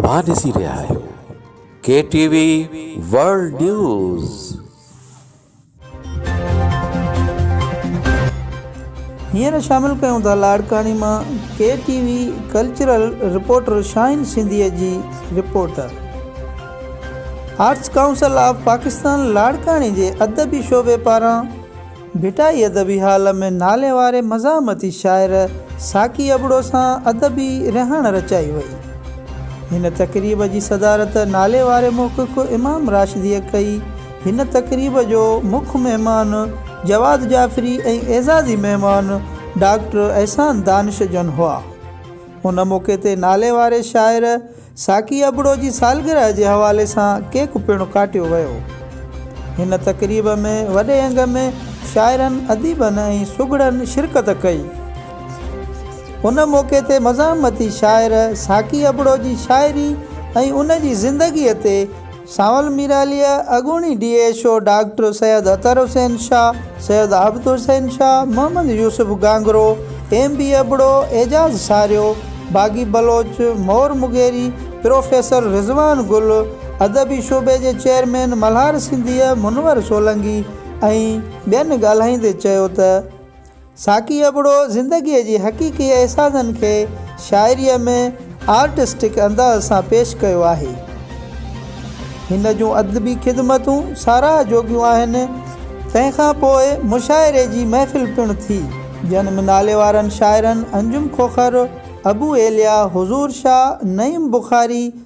اوهان ڏسي رهيا آهيو K T V world news. هينئر شامل ڪيون ٿا لاڙڪاڻي مان K T V cultural reporter Shaheen سنڌيء جي report. Arts council of Pakistan لاڙڪاڻي جي ادبي شعبي پاران، ڀٽائي ادبي هال ۾ ناليواري مزاحمتي شاعر ساقي ابڙو سان ادبي رهاڻ رچائي وئي. هن تقريب جي صدارت ناليواري محقق امام راشديء ڪئي. هن تقريب جو مک مهمان جواد جعفري ۽ اعزازي مهمان ڊاڪٽر احسان دانش جون هئا. ان موقعي تي ناليواري شاعر، ساقي ابڙو جي سالگرهه جي حوالي سان ڪيڪ پڻ ڪاٽيو ويو. هن تقريب ۾ وڏي انگ ۾ شاعرن، اديبن ۽ سگهڙن شرڪت ڪئي. ان موقعي تي مزاحمتي شاعر ساقي ابڙو جي شاعري ۽ ان جي زندگي تي سانول ميراليء اڳوڻي D H O doctor Syed Athar Hussain Shah, Syed Abid Hussain Shah, Muhammad Yousuf Gangro, M B Abro, Ejaz Sario, Baghi Baloch, Mor Mugheri, professor Rizwan Gul, ادبي شعبي جي چيئرمين ملهار سنڌيء، منور سولنگي ۽ ٻين ڳالهائيندي چيو ته ساقي ابڙو زندگيء جي حقيقي احساسن کي شاعريء ۾ آرٽسٽڪ انداز سان پيش ڪيو آهي. هن جون ادبي خدمتون ساراهه جوڳيون آهن. تنهن کان پوء مشاعري جي محفل پڻ ٿي، جنهن ۾ ناليوارن شاعرن انجم کوکر، ابو ايليا، حضور شاهه، نعيم بخاري،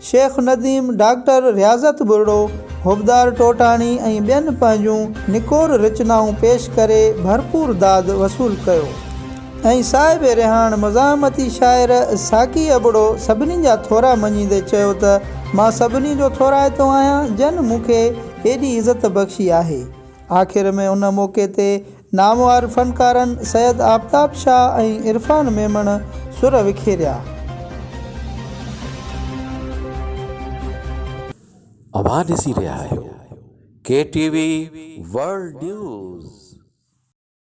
شيخ نديم، ڊاڪٽر رياضت ٻرڙو، حبدار ٽوٽاڻي ۽ ٻين پنهنجون نڪور رچنائون پيش ڪري ڀرپور داد وصول ڪيو ۽ صاحب رهاڻ مزاحمتي شاعر ساقي ابڙو سڀني جا ٿورا مڃيندي چيو ته مان سڀني جو ٿورائتو آهيان جن مون کي ايڏي عزت بخشي آهي. آخر ۾ ان موقعي تي ناموار فنڪارن سيد آفتاب شاهه ۽ عرفان ميمڻ سر وکيريا. اوهان ڏسي رهيا آهيو K T V world news.